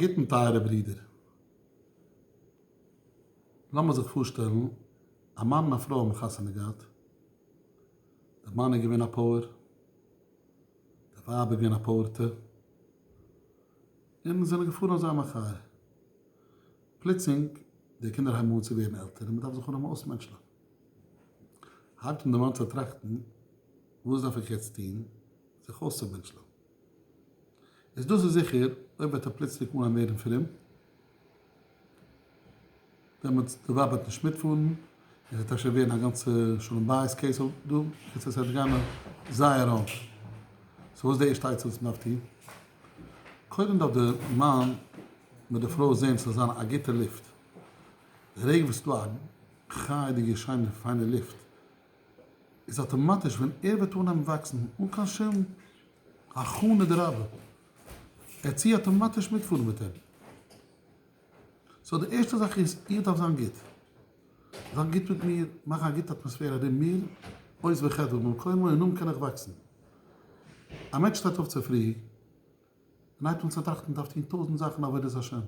גוטן טייערע ברידער. לאמיר זיך פארשטעלן א מאן און א פרוי האבן חתונה געהאט, די מאן איז געווען א פאוער, די ווייב איז געווען א פאוערטע, און זענען געפארן אויף זייער מחיה. פלוצלינג די קינדער הייבן אן צו ווערן עלטער און מען דארף זיך אנהייבן אויסמענטשלען. הייבט אן די מאן צו טראכטן, וואס דארף איך יעצט טון זיך אויסצומענטשלען? איז דאס איז זיכער, אויב וועט ער פלוצלינג אנהייבן ווערן פרום, דעמאלטס די ווייב וועט נישט מיטפארן, עס וועט אפשר ווערן א גאנצע שלום בית קעיס אויף דא, קיצור עס וועט גיין זייער ראנג. סאו וואס איז די ערשטע עצה וואס מען דארף טון? קודם דארף די מאן מיט די פרוי זען ס'זאל זיין א גוטע לופט, די רגע וואס ס'איז דא א חיי'דיגע שיינע פיינע לופט, איז אטאמאטיש ווען ער וועט אנהייבן וואקסן אן קיין שום הכנה דרבה ער צו אטאמאטיש מיטפארן מיט אים. סאו די ערשטע זאך איז איך דארף זיין גוט. זיין גוט מיט מיר, מאכן א גוטע אטמאספער ארום מיר, עוז וחדוה במקומו און נאכדעם קען איך וואקסן. א מענטש שטייט אויף צופרי, און הייבט אן צו טראכטן מען דארף טון טויזנט זאכן עבודת השם,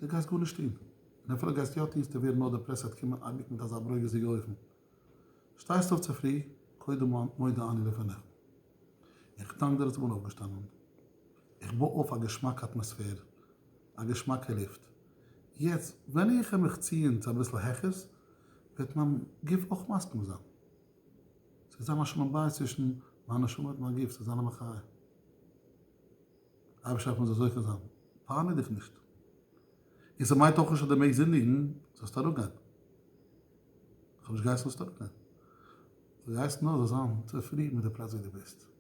דו גייסט גארנישט טון, און אפילו גייסטו יא טון ס'טוט ווערן נאר דעפרעסט עד כמעט אייביג מיט אזא ברוגז'דיגע אופן, שטייסט אויף צופרי, קודם מודה אני לפניך, איך דאנק דיר אז איך בין אויפגעשטאנען, איך בוי אויף א געשמאקע אטמאספער, א געשמאקע לופט, יעצט ווען איך העמעך ציען צו אביסל העכערס וועט מיין גוף אויך מסכים זיין. ס'וועט זיין א שלום בית צווישן מיין נשמה מיט מיין גוף, ס'וועט זיין א מחיה. אייבערשטער לאמיר זיך זוכה זיין, פארמיר דיך נישט. און ס'מיינט אויך נישט אז דו מעגסט זינדיגן, זאלסט אראפגיין. כ'האב נישט געהייסן זאלסט אראפגיין. כ'געהייסן נאר זאלסט זיין צופרידן מיט די פלאץ ווי דו ביסט.